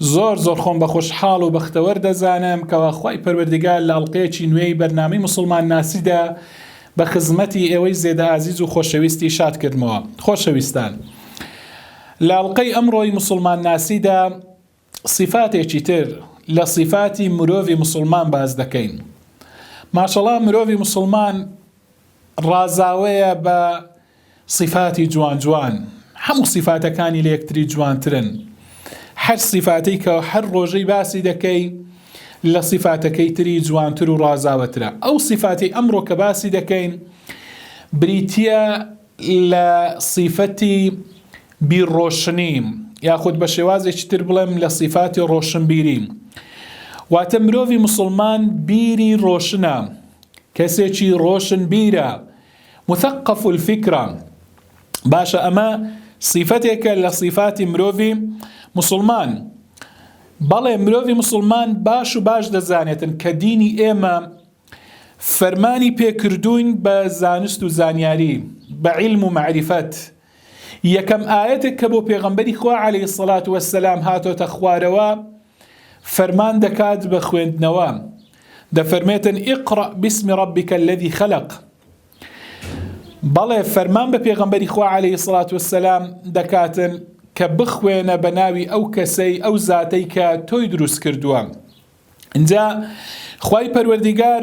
زۆر زۆر خۆم بە خۆشحاڵ و بەختەوەر دەزانم کەوا خوای پەروەردگار لە ئەڵقەیەکی نوێی بەرنامەی موسڵمان ناسیدا بە خزمەتی ئێوەی زێدە ئازیز و خۆشەویستی شاد کردمەوە خۆشەویستان لە ئەڵلقەی ئەمڕۆی موسڵمان ناسیدا صفاتێکی تر لە صفاتی مرۆڤی مسلمان باز دەکەین ماشەڵا مرۆڤی مسلمان ڕازاوەیە بە سیفاتی جوان جوان هەموو سیفاتەکانی لە یەکتری جوانترن هەر سیفاتەی کە هەر ڕۆژەی باسی دەکەی لە سیفاتەکەی تری جوانتر و ڕازاوەترە ئەو سیفاتی ئەمڕۆ کە باسی دەکەین بریتە لە سیفەتی بیرڕۆشنی یاخود بە شێوازێکی تر بڵێم لە سیفاتی ڕۆشنبیری واتە مرۆڤی مسلمان بیری ڕۆشنە کەسێکی ڕۆشن بیرە مثقف الفکرە، باشە ئەمە صیفەتێکە لە صیفاتی مرۆڤی موسڵمان، بەڵێ مرۆڤی موسڵمان باش و باش دەزانێتن کە دینی ئێمە فەرمانی پێکردووین بە زانست و زانیاری بە علم و معرفت، یەکەم ئایەتێک کە بۆ پێغەمبەری خوا عەلەیهی سەڵات وەسەلام هاتۆتە خوارەوە فەرمان دەکات بە خوێندنەوە دەفەرمێتن ئیقڕە بسمی ڕەبیکە لەدی خەلق بەڵێ فەرمان بە پێغەمبەری خوا عەلەیهی سەڵات وەسەلام دەکاتن کە بخوێنە بە ناوی ئەو کەسەی ئەو زاتەی کە تۆی دروست کردووە اینجا خی پەروەردیگار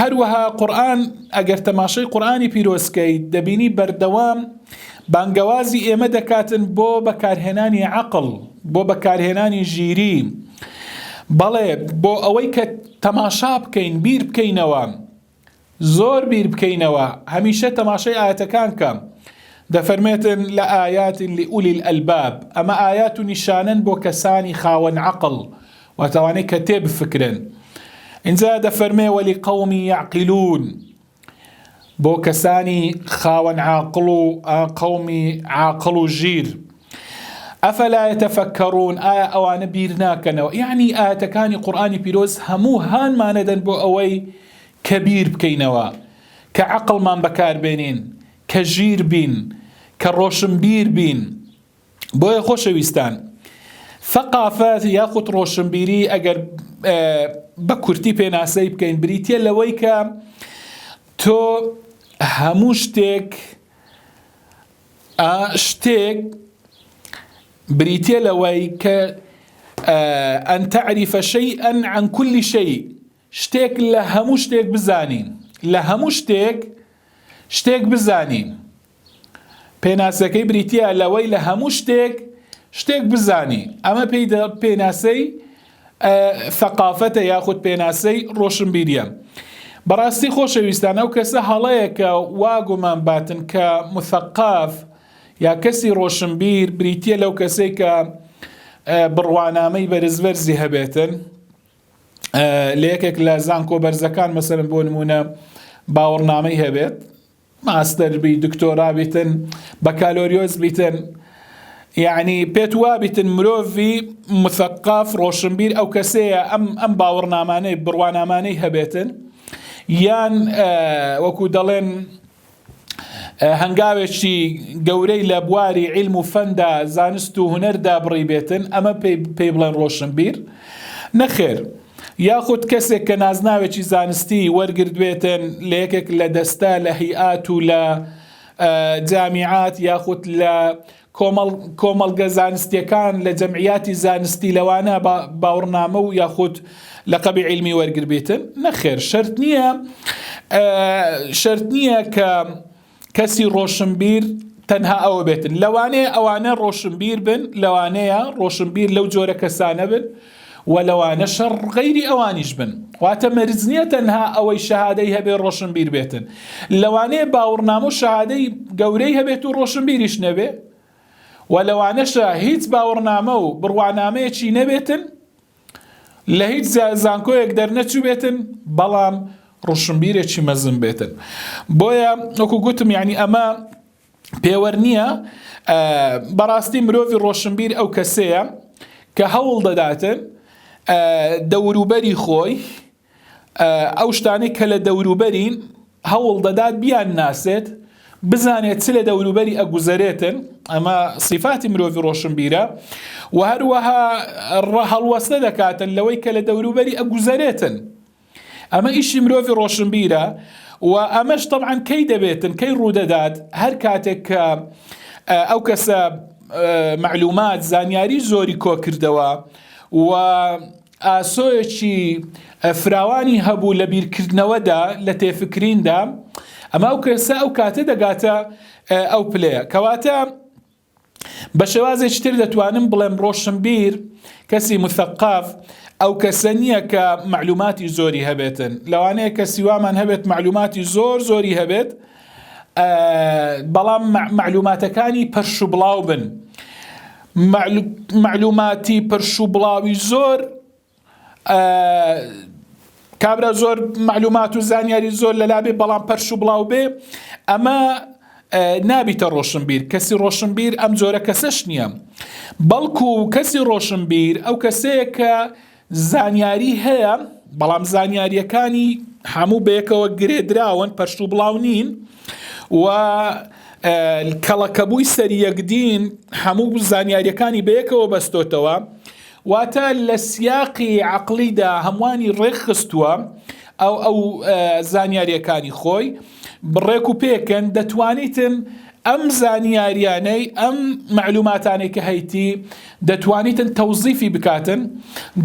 هەروەها قورئان ئەگەر تەماشەی قورئانی پیرۆز کەیت دەبینی بەردەوام بانگەوازی ئێمە دەکاتن بۆ بەکارهێنانی عەقڵ بۆ بەکارهێنانی ژیری بەڵێ بۆ ئەوەی کە تەماشا بکەین بیر بکەینەوە زۆر بیر بکەینەوە هەمیشە تەماشای ئاەتەکان کە دەفەرمێتن لە ئايات لئولی الباب ئەمە ئايات و نیشانەن بۆ کەسانی خاوەن عقل واتە ئەوانەی کە تێبفکرن. ئینجا دەفەرمێ وەلی قەومی یعقلون بۆ کەسانی خاوەن عاقڵ و قەومی عاقڵ و ژیر ئەفەلا یتەفەکەڕون ئایا ئەوانە بیر ناکەنەوە یعنی ئاەتەکانی قورآانی پیرۆز هەموو هانمانەدەن بۆ ئەوەی کە بیر بکەینەوە کە عقلمان بەکاربێنین کە ژیر بین کە ڕۆشنبیر بین بۆیە خۆشەویستان ثقافەت یاخود ڕۆشنبیری ئەگەر بە کورتی پێناسەی بکەین بریتە لەوەی کە تۆ هەموو شتێک شتێک بریتە لەوەی کە ئەن تعریفە شەی ئەن عن کولی شەی شتێک لە هەموو شتێک بزانین لە هەموو شتێک شتێک بزانین پێناسەکەی بریتییە لەوەی لە هەموو شتێک شتێک بزانی ئەمە پێی پێناسەی ثقافتە یاخود پێناسەی ڕۆشنبیریە بەڕاستی خۆشەویستان ئەو کەسە هەڵەیەکە واگومان باتن کە مثقاف یا کەسی ڕۆشنبیر بریتە لەو کەسێک کە بڕوانامەی بەرزبەرزی هەبێتن لە یەکێک لە زانکۆ بەرزەکان مەسەرم بۆ نمونە باوەڕنامەی هەبێت ماستەر بی دکتۆرا بیتن بەکالۆریۆس بیتن یعنی پێت وابیتن مرۆڤی مثقف ڕۆشنبیر ئەو کەسەیە ئەم ئەم باوەڕنامانەی بڕوانامانەی هەبێتن یان وەکو دەڵێن هەنگاوێکی گەورەی لە بواری علم و فەندا زانست و هوەردا بڕی بێتن ئەمە پێی بڵێن ڕۆشنبیر نەخێر یاخود کەسێک کە نازناوێکی زانستی وەرگردوێتن لە یەکێک لە دەستە لە هیئات و لە جامیعات یاخود لە کۆمەڵگە زانستیەکان لە جەمعیاتی زانستی لەوانە باوڕنامە و یاخود لە قەبی علمی وەرگربێتن نەخێر شرت نییە شرت نییە کە کەسی ڕۆشنبیر تەنها ئەوە بێتن لەوانەیە ئەوانە ڕۆشنبیر بن لەوانەیە ڕۆشنبیر لەو جۆرە کەسانە بن و لەوانە شەڕ غەیری ئەوانیش بن واتە مەرج نییە تەنها ئەوەی شەهادەی هەبێ ڕۆشنبیر بێتن لەوانەیە باوەڕنامە و شەهادەی گەورەی هەبێت و ڕۆشنبیریش نەبێ و لەوانەشە هیچ باوەڕنامە و بڕوانامەیەکی نەبێتن لە هیچ زانکۆیەک دەرنەچووبێتن بەڵام ڕوشنبیرێکی مەزن بێتن بۆیە وەکو گوتم یعنی ئەمە پێوەەر نییە بەڕاستی مرۆڤی ڕۆشنبیر ئەو کەسەیە کە هەوڵ دەداتن دەوروبەری خۆی ئەو شتانەی کە لە دەوروبەرین هەوڵ دەدات بیان ناسێت بزانێت چ لە دەوروبەری ئەگوزەرێتن ئەمە سیفاتی مرۆڤ ڕۆشنبیرە و هەروەها هەڵوەستە دەکاتن لەوەی کە لە دەوروبەری ئەگوزەرێتن ئەمە ئیشی مرۆڤ ڕۆشنبیرە و ئەمەش طبعاان کەی دەبێتن کەی ڕوودەدات هەر کاتێک کە ئەو کەسە معلومات زانیاری زۆری کۆکردەوە و ئاسۆیەکی فراوانی هەبوو لە بیرکردنەوەدا لە تێفکریندا ئەما ئەو کەسە ئەو کاتە دەگاتە ئەو پلەیە کەواتە بە شێوازێکی تر دەتوانم بڵێم ڕۆشنبیر کەسی مثقاف ئەو کەسە نییە کە معلوماتی زۆری هەبێتن لەوانەیە کەسی وامان هەبێت معلوماتی زۆر زۆری هەبێت بەڵام مەعلوماتەکانی پەرش و بڵاو بن مەعلوماتی پرش و بڵاوی زۆر کابرا زۆر معلومات و زانیاری زۆر لەلابێ بەڵام پەرش و بڵاو بێ ئەمە نابیتە ڕۆشنبیر کەسی ڕۆشنبیر ئەم جۆرە کەسەش نییە بەڵکو کەسی ڕۆشنبیر ئەو کەسەیە کە زانیاری هەیە، بەڵام زانیارییەکانی هەموو بەیەکەوە گرێدراون پەرش و بڵاو نین و کەڵەکەبووی سەری یەکدین هەموو زانیاریەکانی بەیەکەوە بەستۆتەوە واتە لە سیاقی عقلیدا هەمووانی ڕێکخستووە ئەو ئەو زانیاریەکانی خۆی ڕێک و پێکن دەتوانیتن ئەم زانیاریانەی ئەم معلوماتانەی کە هەیتی دەتوانیتن تەوزیفی بکاتن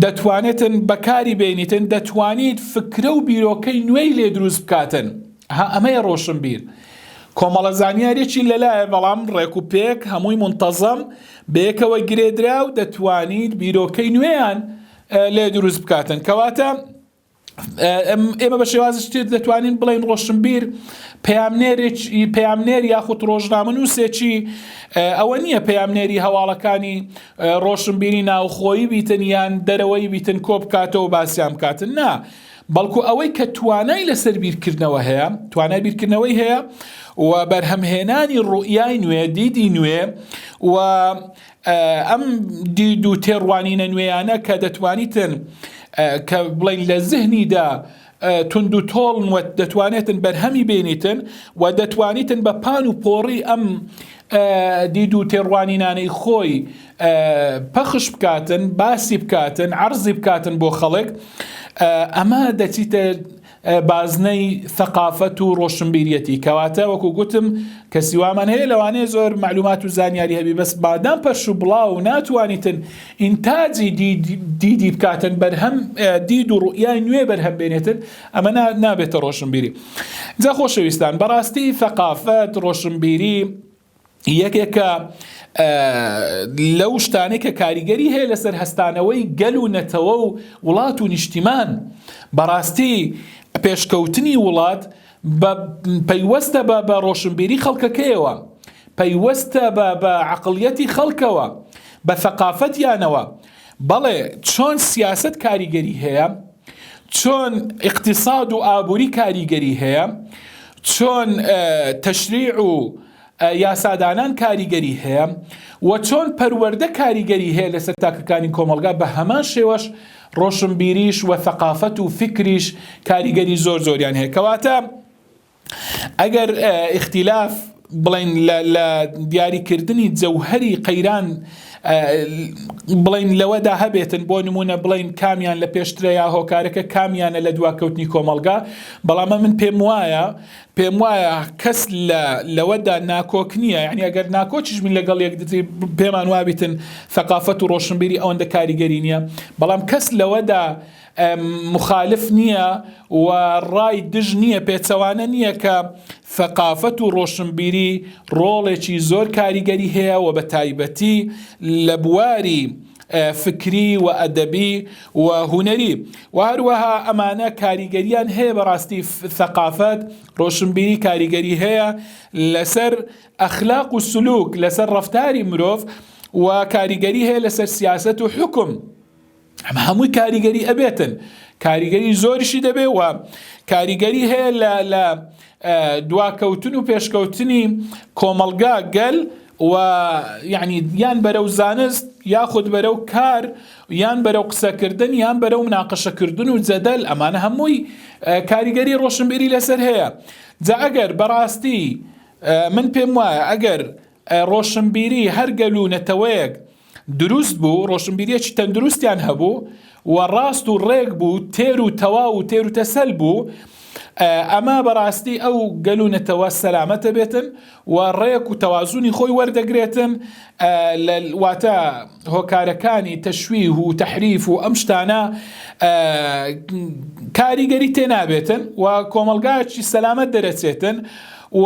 دەتوانێتن بەکاری بینیتن دەتوانیت فکرە و بیرۆکەی نوێی لێ دروست بکاتن ها ئەمەیە ڕۆشن بیر کۆمەڵە زانیارێکی لەلایە بەڵام ڕێک و پێک هەمووی منتەزەم بەیەکەوە گرێدرا و دەتوانیت بیرۆکەی نوێیان لێ دروست بکاتن کەواتە ئێمە بە شێوازی شتێت دەتوانین بڵین ڕۆشنبیر پامنێر یاخود ڕۆژنامە نووسێکی ئەوە نییە پامنێری هەواڵەکانی ڕۆشنبیری ناوخۆیی بیتن یان دەرەوەی بیتن کۆ بکاتەوە باسییان بکاتن نا. بەڵکو ئەوەی کە توانای لەسەر بیرکردنەوە هەیە توانای بیرکردنەوەی هەیە و بەرهەمهێنانی ڕوئای نوێ دیدی نوێ و ئەم دید و تێڕوانینە نوێیانە کە دەتوانیتن کە بڵین لە زهنیدا تونند و تۆڵن و دەتوانێتن بەرهەمی بینیتن و دەتوانیتن بە پان و پۆڕی ئەم دید و تێڕوانینانەی خۆی پەخش بکاتن باسی بکاتن عرضی بکاتن بۆ خەڵک ئەمە دەچیتە بازنەی ثەقافەت و ڕۆشنبیریەتی کەواتە وەکو گوتم کەسی وامان هەیە لەوانەیە زۆر معلومات و زانیاری هەبی بەس بادام پەرش و بڵاو ناتوانیتن ئینتاجی دیدی بکاتن بەرهەم دید و ڕوئای نوێ بەرهەم بێنێتن ئەمە نابێتە ڕۆشنبیری جا خۆشەویستان بەڕاستی ثەقافەت ڕۆشنبیری یەکێکە لەو شتانەی کە کاریگەری هەیە لەسەر هەستانەوەی گەل و نەتەوە و وڵات و نیشتیمان بەڕاستی پێشکەوتنی وڵات بە پەیوەستە بە بە ڕۆشنبیری خەڵکەکەیەوە پەیوەستە بە بە عقلیەتی خەڵکەوە بە ثقاافەتیانەوە بەڵێ چۆن سیاست کاریگەری هەیە چۆن اقتصاد و ئابووری کاریگەری هەیە چۆن تەشریع و یاسادانان کاریگەری هەیە و چۆن پەروەردە کاریگەری هەیە لەسەر تاکەکانی کۆمەلگا بە هەمان شێوەش ڕۆشنبیریش و ثقافەت و فکریش کاریگەری زۆر زۆریان هەیە کەواتە ئەگەر ئیختیلاف بڵێن لە دیاریکردنی جەوهری قەیران بڵین لەوەدا هەبێتن بۆ نمونە بڵین کامیان لە پێشترە یا هۆکارەکە کامیانە لە دواکەوتنی کۆمەلگا بەڵامە من پێم وایە پێم وایە کەس لە لەوەدا ناکۆک نییە یعنی ئەگەر ناکۆچش من لەگەڵ یەکدتری پێمان وابیتن ثقافەت و ڕۆشنبیری ئەوەندە کاریگەری نییە بەڵام کەس لەوەدا موخالف نییە و ڕای دژ نییە پێچەوانە نییە کە ثەقافەت و ڕۆشنبیری ڕۆڵێکی زۆر کاریگەری هەیە و بە تایبەتی لە بواری فکری و ئەدەبی و هونەری و هەروەها ئەمانە کاریگەریان هەیە بەڕاستی ثەقافەت ڕۆشنبیری کاریگەری هەیە لەسەر ئەخلاق و سلوک لەسەر ڕفتاری مرۆڤ و کاریگەری هەیە لەسەر سیاست و حکم ئەمە هەمووی کاریگەری ئەبێتن کاریگەری زۆریشی دەبێ و کاریگەری هەیە لە لە دواکەوتن و پێشکەوتنی کۆمەلگا گەل و یعنی یان بەرە و زانست یاخود بەرە و کار یان بەرە و قسەکردن یان بەرە و مناقەشەکردن و جەدەل ئەمانە هەمووی کاریگەری ڕۆشنبیری لەسەر هەیە جا ئەگەر بەڕاستی من پێم وایە ئەگەر ڕۆشنبیری هەر گەل و نەتەوەیەک دروست بوو ڕۆشنبیریەکی تەندروستیان هەبوو و ڕاست و ڕێک بوو تێر و تەواو و تێر و تەسەل بوو ئەمە بەڕاستی ئەو گەل و نەتەوە سەلامەتە بێتن و ڕێک و تەوازونی خۆی وەردەگرێتن لە واتە هۆکارەکانی تەشوی و تحریف و ئەم شتانە کاریگەری تێنابێتن و کۆمەلگایکی سەلامەت دەرەچێتن و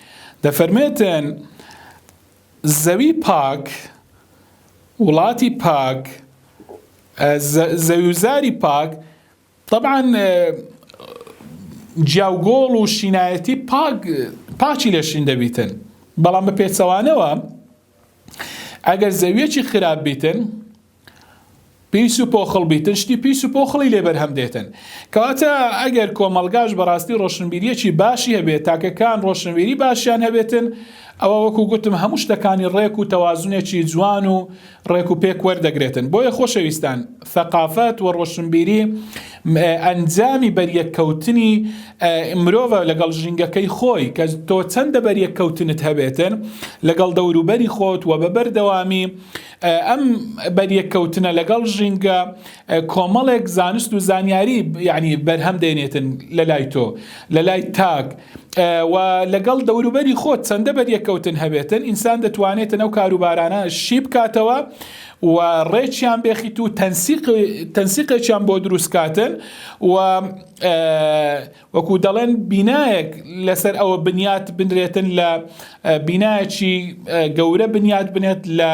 دەفەرمێتن، زەوی پاک، وڵاتی پاک، زەویوزاری پاک، تەبعەن جیاوگۆڵ و شینایەتی پاک پاچی لە شین دەبیتن بەڵام بە پێچەوانەوە ئەگەر زەویەکی خراپ بیتن پیس و پۆخڵ بیتن شتی پیس و پۆخڵی لێ بەرهەم دێتن کەواتە ئەگەر کۆمەڵگاش بەڕاستی ڕۆشنبیریەکی باشی هەبێت تاکەکان ڕۆشنبیری باشیان هەبێتن ئەوە وەکو گوتم هەموو شتەکانی ڕێک و تەوازونێکی جوان و ڕێک و پێک وەردەگرێتن بۆیە خۆشەویستان ثقافەت و ڕۆشنبیری ئەنجامی بەریەککەوتنی مرۆڤە لەگەڵ ژینگەکەی خۆی کە تۆ چەندە بەریەککەوتنت هەبێتن لەگەڵ دەوروبەری خۆت و بە بەردەوامی ئەم بەریەککەوتنە لەگەڵ ژینگە کۆمەڵێک زانست و زانیاری یعنی بەرهەم دێنێتن لە لای تۆ لە لای تاک و لەگەڵ دەوروبەری خۆت چەندە بەریەککەوتن هەبێتن ئینسان دەتوانێتن ئەو کاروبارانە شی بکاتەوە و ڕێکیان بێخیت و تەنسیقێکیان بۆ دروستکاتن و وەکو دەڵێن بینایەک لەسەر ئەوە بنیات بنرێتن لە بینایەکی گەورە بنیات بنێت لە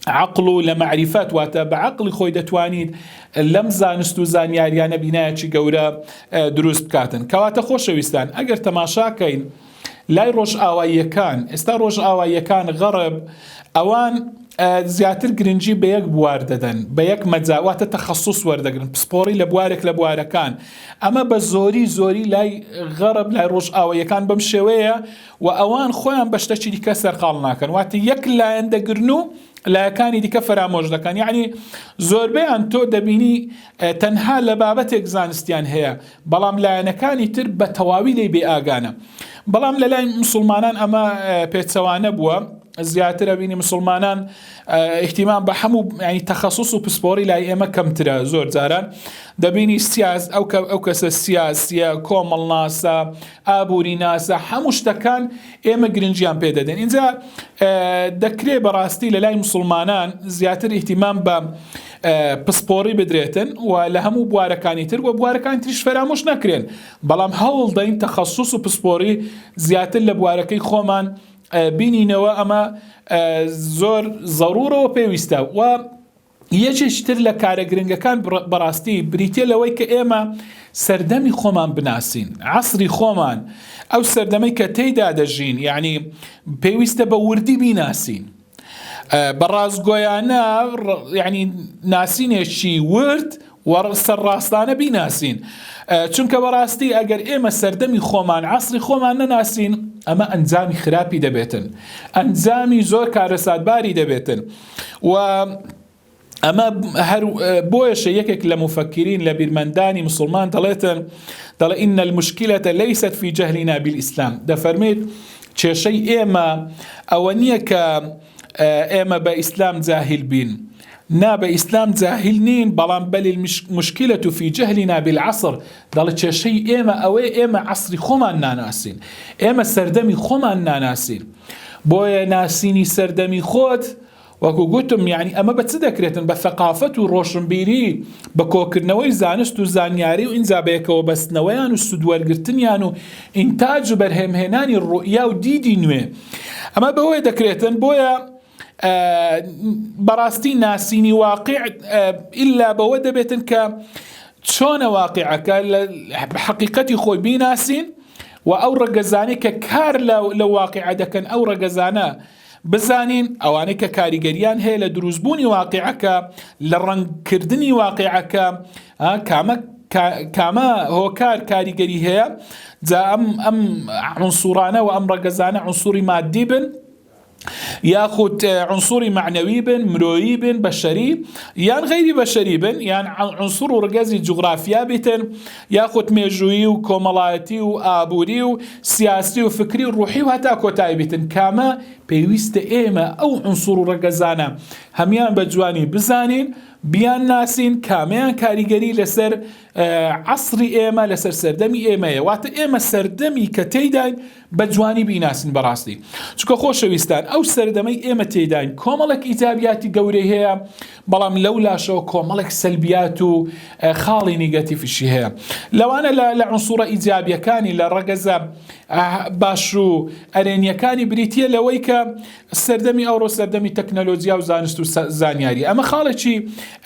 عقل و لە معریفەت واتە بە عقلی خۆی دەتوانیت لەم زانست و زانیاریانە بینایەکی گەورە دروست بکاتن کەواتە خۆشەویستان ئەگەر تەماشاکەین لای ڕۆژئاواییەکان، ئێستا ڕۆژئاواییەکان، غەڕب، ئەوان زیاتر گرنگی بە یەک بوار دەدەن، بە یەک مەجا، واتە تەخەسوس وەردەگرن، پسپۆڕی لە بوارێک لە بوارەکان. ئەمە بە زۆری زۆری لای غەڕب، لای ڕۆژئاواییەکان بەم شێوەیە و ئەوان خۆیان بە شتەکی دیکە سەرقاڵ ناکەن. واتە یەک لایەن دەگرن و لایەکانی دیکە فەرامۆش دەکەن. یەعنی زۆربەیان تۆ دەبینی تەنها لە بابەتێک زانستیان هەیە. بەڵام لایەنەکانی تر بە تەواوی لێی بێ ئاگانە. بەڵام لە لای مسوڵمانان ئەمە پێچەوانە بووە، زیاتر ئەبینی مسوڵمانان ئیحتیمام بە هەموو ینی تەخصص و پسپۆری لای ئێمە کەمترە زۆر جاران دەبینی سیاز ئەو کە ئەو کەسە سیاسیە کۆمەڵناسە ئابوری ناسە حەموو شتەکان ئێمە گرنگیان پێ دەدەین اینجا دەکرێ بەڕاستی لە لای مسلمانان زیاتر ئیهتیمام بە پسپۆڕی بدرێتن و لە هەموو بوارەکانی تر و بوارەکان تریش فەرامۆش نەکرێن بەڵام هەوڵ دەین تەخصص و پسپۆری زیاتر لە بوارەکەی خۆمان بینینەوە ئەمە زۆر زەڕورەوە پێویستە و یەکێکی تر لە کارە گرنگەکان بەڕاستی بریتیە لەوەی کە ئێمە سەردەمی خۆمان بناسین، عەسری خۆمان، ئەو سەردەمەی کە تێیدا دەژین، یەعنی پێویستە بە وردی بیناسین. بە ڕاستگۆیانە یەعنی ناسینێکی ورد سەرڕاستانە بیناسین. چونکە بەڕاستی ئەگەر ئێمە سەردەمی خۆمان عەسری خۆمان نەناسین ئەمە ئەنجامی خراپی دەبێتن. ئەنجامی زۆر کارەساتباری دەبێتن. و ئەمە هەر بۆیەشە یەکێک لە مفەکرین لە بیرمەندانی مسلمان دەڵێتن دەڵێ ئینە المشکلەتە لەیست فی جەهلینا بالئیسلام دەفەرمێت کێشەی ئێمە ئەوە نییە کە ئێمە بە ئیسلام جاهل بین نا بە ئیسلام جاهل نین بەڵام بەلی مشکلە و فی جەهلینا بالعصر دەڵێ کێشەی ئێمە ئەوەی ئێمە عصری خۆمان ناناسین ئێمە سەردەمی خۆمان ناناسین بۆیە ناسینی سەردەمی خۆت وەکو گوتم یعنی ئەمە بە چ دەکرێتن بە سەقافەت و ڕۆشنبیری بە کۆکردنەوەی زانست و زانیاری و ئینجا بەیەکەوە بەستنەوەیان و سودوەرگرتنیان و ئینتاج و بەرهێمهێنانی ڕوئیا و دیدی نوێ ئەمە بەوەی دەکرێتن بۆیە بەڕاستی ناسینی واقع ئللا بەوە دەبێتن کە چۆنە واقعەکە لە حقیقەتی خۆی بیناسین و ئەو ڕەگەزانی کە کار لە واقعە دەکەن ئەو ڕەگەزانە بزانین ئەوانەی کە کاریگەریان هەیە لە دروستبوونی واقعەکە لە ڕەنگکردنی واقعەکە کامە کامە هۆکار کاریگەری هەیە جا ئەم ئەم عنسوڕانە و ئەم ڕەگەزانە عنسوری مادی بن یاخود عنصری معنەوی بن مرۆیی بن بەشەری یان غیری بەشەری بن یان عنصر و ڕگەزی جوگرافیا بیتن یاخود مێژووی و کۆمەڵایەتی و ئابووری و سیاسی و فکری و ڕوحی و هەتا کۆتایی بیتن کامە پێویستە ئێمە ئەو عنصر و ڕگەزانە هەمان بە جوانی بزانین بیان ناسین کامیان کاریگەری لەسەر عصری ئێمە لەسەر سەردەمی ئێمەیە واتە ئێمە سەردەمی کە تێداین بە جوانی بیناسن بەڕاستی چکە خۆشەویستان ئەو سەردەمەی ئێمە تێداین کۆمەڵێک ئیتابیاتی گەورەی هەیە بەڵام لەو لاشەوە کۆمەڵێک سەلبیات و خاڵی نیگەتیفشی هەیە لەوانە لە لە عنسوڕە ئیجابیەکانی لە ڕەگەزە باش و ئەرێنیەکانی بریتە لەوەی کە سەردەمی ئەوڕۆ سەردەمی تەکنەلۆجیا و زانست و زانیاری ئەمە خاڵێکی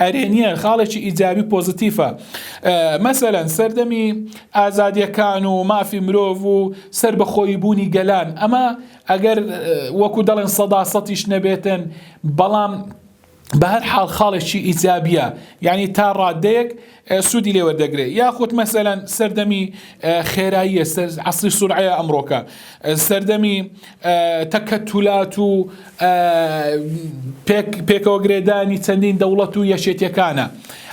ئەرێنیە خاڵێکی ئیجابی پۆزیتیفە مەسەەن سەردەمی ئازادیەکان و مافی مرۆڤ و سەر بەخۆی بوونی گەلان ئەمە ئەگەر وەکو دەڵێن سەدا سەتیش نەبێتن بەڵام بە هەر حاڵ خاڵێکی ئیجابیە یعنی تا ڕادەیەک سوودی لێ وەردەگرێت یاخود مەسەلەن سەردەمی خێراییە عسری سرعەیە ئەمڕۆکە سەردەمی تەکە تولات و پێکەوە گرێدانی چەندین دەوڵەت و یەشێتەکانە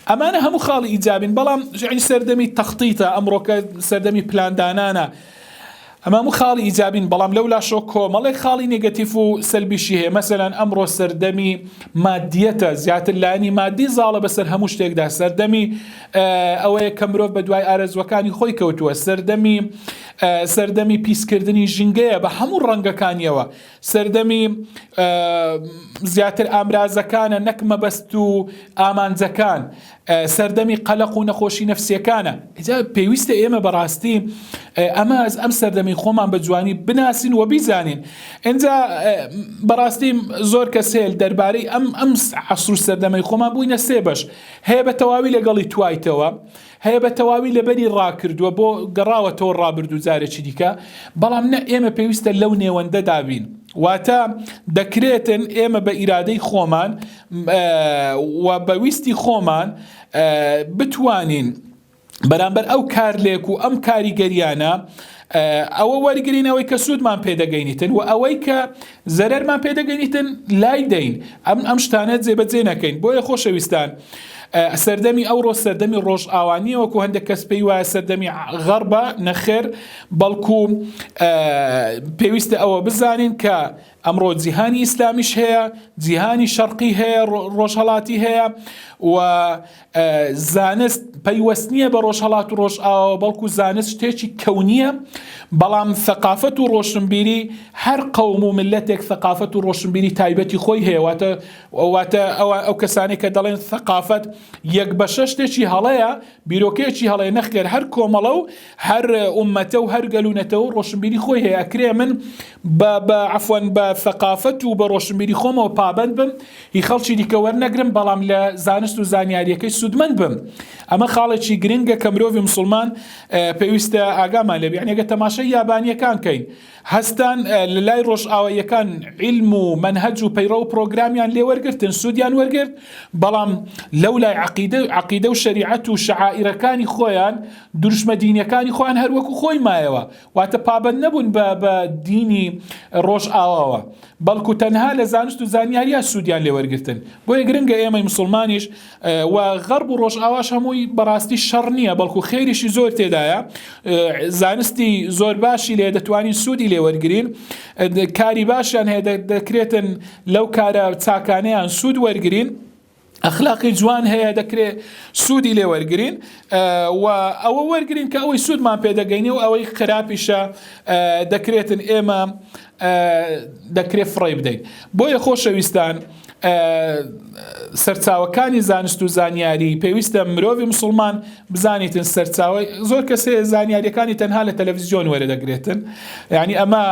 ئەمانە هەموو خاڵی ئیجابین بەڵام ژعی سەردەمی تەختیتە ئەمڕۆکە سەردەمی پلاندانانە ئەمە هەموو خاڵی ئیجابین بەڵام لەو لاشەوە کۆمەڵێک خاڵی نێگەتیف و سەلبیشی هەیە مەسەلەن ئەمڕۆ سەردەمی مادیەتە زیاتر لایەنی مادی زاڵە بەسەر هەموو شتێکدا سەردەمی ئەوەیە کە مرۆڤ بە دوای ئارەزوەکانی خۆی کەوتووە سەردەمی سەردەمی پیسکردنی ژینگەیە بە هەموو ڕەنگەکانیەوە سەردەمی زیاتر ئامرازەکانە نەک مەبەست و ئامانجەکان سەردەمی قەلەق و نەخۆشی نەفسیەکانە جا پێویستە ئێمە بەڕاستی ئەمە ئەز ئەم سەردەمی خۆمان بە جوانی بناسین و بیزانین ئەجا بەڕاستی زۆر کەس هێل دەربارەی ئەم ئەم عسر و سەردەمەی خۆمان بووینە سێ بەش هەیە بە تەواوی لەگەڵی توایتەوە هەیە بە تەواوی لەبەری ڕاکردووە بۆ گەڕاوەتەوە ڕابردوو جارێکی دیکە بەڵام نە ئێمە پێویستە لەو نێوەندەدابین واتە دەکرێتن ئێمە بە ئیرادەی خۆمان و بە ویستی خۆمان بتوانین بەرامبەر ئەو کارلێک و ئەم کاریگەریانە ئەوە وەرگین ئەوەی کە سوودمان پێدەگەینیتن و ئەوەی کە زەرەرمان پێدەگەینیتن لای دەین ئەم ئەم شتانە جێبەجێ نەکەین بۆیە خۆشەویستان. سەردەمی ئەوڕۆ سەردەمی ڕۆژ ئاوانیە وەکو هەندێک کەس پێی وایە سەردەمی غەڕبە نەخێر بەڵکو پێویستە ئەوە بزانین کە ئەمڕۆ جیهانی ئیسلامیش هەیە، جیهانی شەرقی هەیە، ڕۆژهەڵاتی هەیە و زانست پەیوەست نییە بە ڕۆژهەڵات و ڕۆژئاوە بەڵکو زانست شتێکی کەونیە بەڵام ثقافەت و ڕۆشنبیری هەر قەوم و ملەتێک ثقافەت و ڕۆشنبیری تایبەتی خۆی هەیەواتە واتە ئەوە ئەو کەسانی کە دەڵێن ثقافەت یەک بەشە شتێکی هەڵەیە بیرۆکەیەکی هەڵەیە نەخێر هەر کۆمەڵە و هەر ئومەتە و هەر گەل و نەتەوە و ڕۆشنبیری خۆی هەیە ئەکرێ من بە بە عفوەن بە ثقافەت و بە ڕۆشنبیری خۆمەوە پابند بم هی خەڵکی دیکە وەرنەگرم بەڵام لە زانست و زانیاریەکەی سوودمەند بم ئەمە خاڵێکی گرنگە کە مرۆڤی مسلمان پێویستە ئاگامان لێبێ یعنی ئەگە تەماشای یابانیەکان کەین هەستان لە لای ڕۆژئاواییەکان عیلم و مەنهەج و پەیڕەو و پڕۆگرامیان لێ وەرگرتن، سوودیان وەرگرت، بەڵام لەو لای عەقیدە عەقیدە و شەریعەت و شەعائیرەکانی خۆیان، دروشمە دینیەکانی خۆیان هەر وەکوو خۆی مایەوە، واتە پابەند نەبوون بە بە دینی ڕۆژئاواوە، بەڵکوو تەنها لە زانست و زانیاریا سوودیان لێ وەرگرتن، بۆیە گرنگە ئێمەی موسڵمانیش و غەرب و ڕۆژئاواش هەمووی بەڕاستی شەڕ نییە بەڵکو خێریشی زۆر تێدایە زانستی زۆر باشی لێ دەتوانین سوودی لێ وەرگین کاری باشیان هەیە دەکرێتن لەو کارە چاکانیان سوود وەرگین ئەخلاقی جوان هەیە دەکرێت سوودی لێ وەرگین و ئەوە وەرگین کە ئەوەی سوودمان پێدەگەینی و ئەوەی خراپیشە دەکرێتن ئێمە دەکرێت فڕێی بدەین بۆیە خۆشەویستان سەرچاوەکانی زانست و زانیاری پێویستە مرۆڤی مسلمان بزانیتن سەرچاوی زۆر کەسێ زانیاریەکانی تەنها لە تەلەڤزیۆن وەرە دەگرێتن ینی ئەمە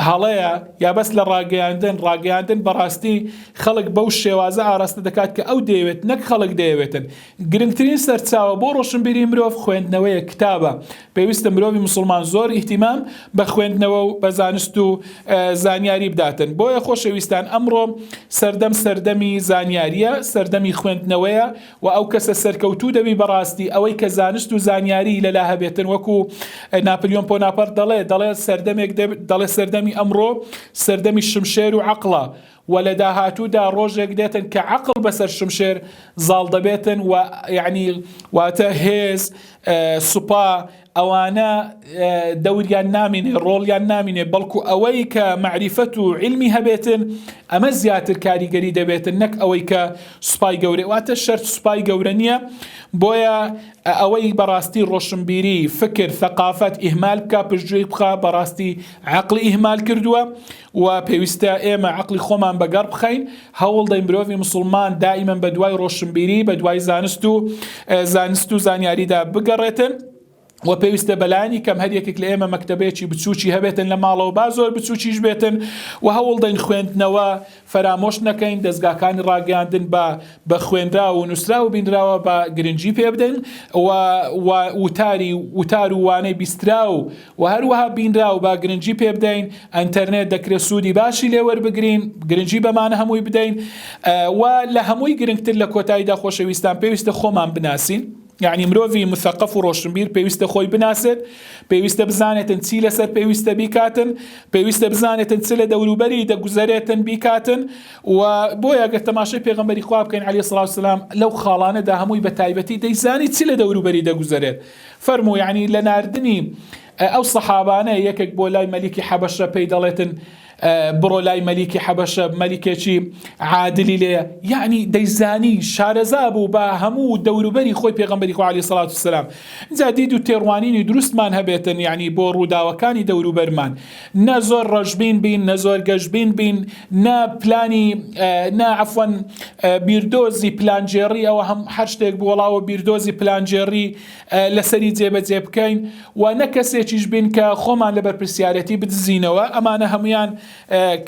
هەڵەیە یا بەس لە ڕاگەیاندن ڕاگەیاندن بەڕاستی خەڵک بەو شێوازە ئاراستە دەکات کە ئەو دەیەوێت نەک خەڵک دەیەوێتن گرنگترین سەرچاوە بۆ ڕۆشنبیری مرۆڤ خوێندنەوەیە کتابە پێویستە مرۆڤی موسڵمان زۆر ئیهتیمام بە خوێندنەوە و بە زانست و زانیاری بداتن بۆیە خۆشەویستان ئەمڕۆ سەردەم سەردەمی زانیاریە سەردەمی خوێندنەوەیە و ئەو کەسە سەرکەوتوو دەبی بەڕاستی ئەوەی کە زانست و زانیاری لەلا هەبێتن وەکو ناپلیۆن پۆناپەر دەڵێ دەڵێ سەردەمێک دەڵێ سەردەمی ئەمڕۆ سەردەمی شمشێر و عقلە وە لە داهاتوودا ڕۆژێک دێتن کە عەقڵ بەسەر شمشێر زاڵ دەبێتن وە یەعنی واتە هێز سوپا ئەوانە دەوریان نامینێ ڕۆڵیان نامینێ بەڵکو ئەوەی کە مەعریفەت و علمی هەبێتن ئەمە زیاتر کاریگەری دەبێتن نەک ئەوەی کە سوپای گەورە واتە شەرت سوپای گەورە نییە بۆیە ئەوەی بەڕاستی ڕۆشنبیری فکر ثقافەت ئیهمال بکە پشتگوێی بخە بەڕاستی عقلی ئیهمال کردووە و پێویستە ئێمە عەقڵی خۆمان بە گەڕ بخەین، هەوڵ دەین مرۆڤی موسڵمان دائیمەن بە دوای ڕۆشنبیری، بە دوای زانست و زانست و زانیاریدا بگەڕێتن، و پێویستە بەلایەنی کەم هەر یەکێک لە ئێمە مەکتەبەیەکی بچووکی هەبێتن لە ماڵەوە با زۆر بچووکیش بێتن و هەوڵ دەین خوێندنەوە فەرامۆش نەکەین دەستگاکانی ڕاگەیاندن بە بە خوێنراو و نووسراو و بینراوە بە گرنگی پێ بدەین و وتاری وتار و وانەی بیستراو وە هەروەها بینراو با گرنگی پێ بدەین ئەنتەرنێت دەکرێت سوودی باشی لێ وەربگرین گرنگی بەمانە هەمووی بدەین و لە هەمووی گرنگتر لە کۆتاییدا خۆشەویستان پێویستە خۆمان بناسین یعنی مرۆڤی مثقف و ڕۆشنبیر پێویستە خۆی بناسێت پێویستە بزانێتن چی لەسەر پێویستە بیکاتن پێویستە بزانێتن چ لە دەوروبەری دەگوزەرێتن بیکاتن و بۆیە گەر تەماشای پێغمبەری خوا بکەین علی سلااو سلام لەو خاڵانەدا هەمووی بە تایبەتی دەیزانی چی لە دەوروبەری دەگوزەرێت فەرموو یەعنی لە ناردنی ئەو سەحابانە یەکێک بۆ لای مەلیکی حەبەشە پێی دەڵێتن بڕۆ لای مەلیکی حەبەشە مەلیکێکی عادلی لێ یعنی دەیزانی شارەزا بوو بە هەموو دەوروبەری خۆی پێغمبەری خوالی سڵات و سلام جادید و تێڕوانینی دروستمان هەبێتن یعنی بۆ ڕووداوەکانی دەوروبەرمان نە زۆر ڕەشبین بین نە زۆر گەشبین بین نە پلانی نە عفوەن بیردۆزی پلانجێڕی ئەوە هەم هەر شتێک بۆڵاوە بیردۆزی پلانجێڕی لەسەری جێبەجێ بکەین و نە کەسێکیش بین کە خۆمان لە بەرپرسیارەتی بدزینەوە ئەمانە هەمویان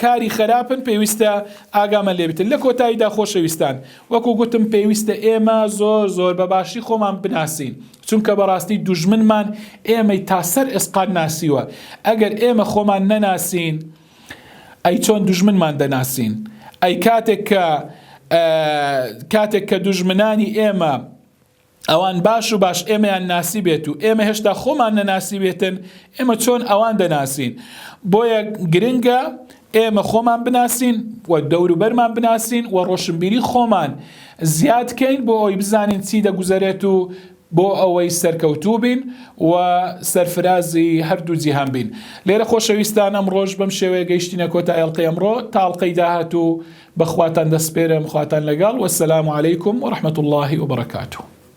کاری خراپن پێویستە ئاگامە لێبتن لە کۆتاییدا خۆشەویستان وەکو گوتم پێویستە ئێمە زۆر زۆر بە باشی خۆمان بناسین چونکە بەڕاستی دوژمنمان ئێمەی تا سەر ئێسقان ناسیوە، ئەگەر ئێمە خۆمان نەناسین ئەی چۆن دوژمنمان دەناسین؟ ئەی کاتێک کە کاتێک کە دوژمنانی ئێمە ئەوان باش و باش ئێمەیان ناسی بێت و ئێمە هێشتا خۆمان نەناسی بێتن ئێمە چۆن ئەوان دەناسین بۆیە گرنگە ئێمە خۆمان بناسین و دەوروبەرمان بناسین و ڕۆشنبیری خۆمان زیاد کەین بۆ ئەوەی بزانین چی دەگوزەرێت و بۆ ئەوەی سەرکەوتوو بین و سەرفرازی هەردوو جیهان بین لێرە خۆشەویستان ئەم ڕۆژ بەم شێوەیە گەیشتینە کۆتا ئێڵقی ئەمڕۆ تاڵقەی داهات و بەخواتان دەسپێرم خواتان لەگەڵ وەسەلام علیکم و ڕحمەت اللهی وبرکاتو